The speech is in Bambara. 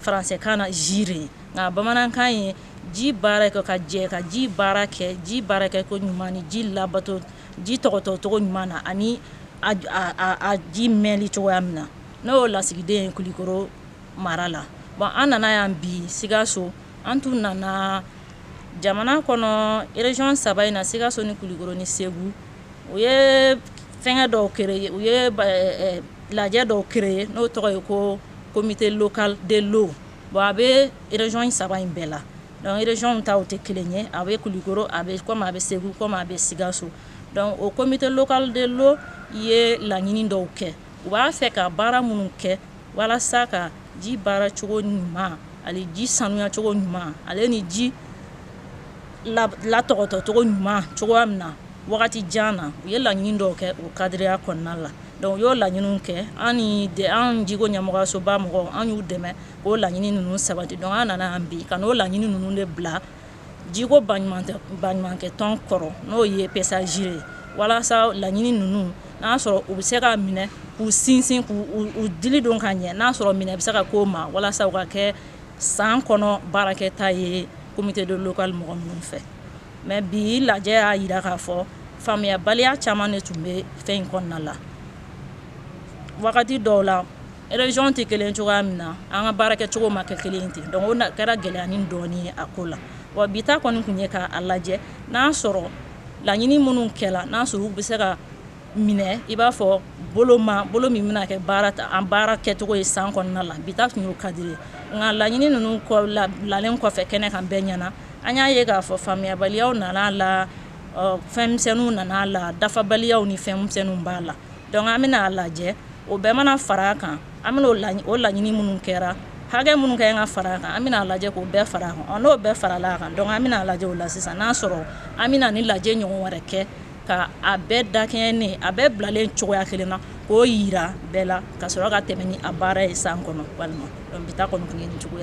Faransɛkan na GIRE nka bamanankan ye ji baara kɛ ka jɛ ka ji baara kɛ ji baara kɛ koɲuman ni ji labato ji tɔgɔtɔcogo ɲuman na ani a ji mɛnli cogoya min na ne y'o lasigiden ye kulukɔrɔ mara la bon an nana yan bi sikaso an tun nana jamana kɔnɔ région saba in na sikaso ni kulukɔrɔ ni segu u ye fɛngɛ dɔw u ye lajɛ dɔw créer n'o tɔgɔ ye ko comité local de l'eau bon a bɛ région in saba in bɛɛ la donc région taw tɛ kelen ye a bɛ Kulikoro a bɛ comme a bɛ Segu comme a bɛ Sikaso donc o comité local de l'eau ye laɲini dɔw kɛ u b'a fɛ ka baara minnu kɛ walasa ka ji baara cogo ɲuman ani ji sanuya cogo ɲuman ale ni ji latɔgɔtɔ cogo ɲuman cogo min na wagati jan na u ye laɲini dɔw kɛ o kadiriya kɔnɔna la donc u y'o laɲini kɛ an an jiko ɲɛmɔgɔyasoba mɔgɔw an y'u dɛmɛ k'o laɲini ninnu sabati donc an nana bi ka n'o laɲini ninnu de bila jiko baɲumankɛ tɔn kɔrɔ n'o ye PCA-GIRE ye walasa laɲini ninnu n'a sɔrɔ u bɛ se ka minɛ k'u sinsin k' u dili don ka ɲɛ n'a sɔrɔ minɛ bɛ se ka k'o ma walasa u ka kɛ san kɔnɔ baarakɛta ye comité de local mɔgɔ minnu fɛ mais bi lajɛ y'a yira k'a fɔ faamuyabaliya caman de tun bɛ fɛn in kɔnɔna la wagati dɔw la région tɛ kelen cogoya min na an ka baarakɛcogo ma kɛ kelen ten donc o kɛra gɛlɛyanin dɔɔnin ye a ko la wa bi ta kɔni tun ye k'a lajɛ n'a sɔrɔ laɲini minnu kɛla n'a sɔrɔ u bɛ se ka minɛ i b'a fɔ bolo ma bolo min bɛna kɛ baara ta an baarakɛcogo ye san kɔnɔna la bi ta tun y'o cadre ye nka laɲini ninnu kɔ la bilalen kɔfɛ kɛnɛ kan bɛɛ ɲɛ na an y'a ye k'a fɔ faamuyabaliya nana la fɛnmisɛnninw nana la dafabaliya ni fɛnmisɛnninw b'a la donc an bɛna a lajɛ o bɛɛ mana fara kan an bɛna o laɲini minnu kɛra hakɛ minnu ka kan ka fara kan an bɛna lajɛ k'o bɛɛ fara kan n'o bɛɛ farala kan donc an bɛna lajɛ o la sisan n'a sɔrɔ an bɛna nin lajɛ ɲɔgɔn wɛrɛ kɛ Ka a bɛɛ dakɛɲɛ ni a bɛɛ bilalen cogoya kelen na k'o yira bɛɛ la ka sɔrɔ ka tɛmɛ ni a baara ye san kɔnɔ walima donc bi ta kɔni tun ye nin cogoya ye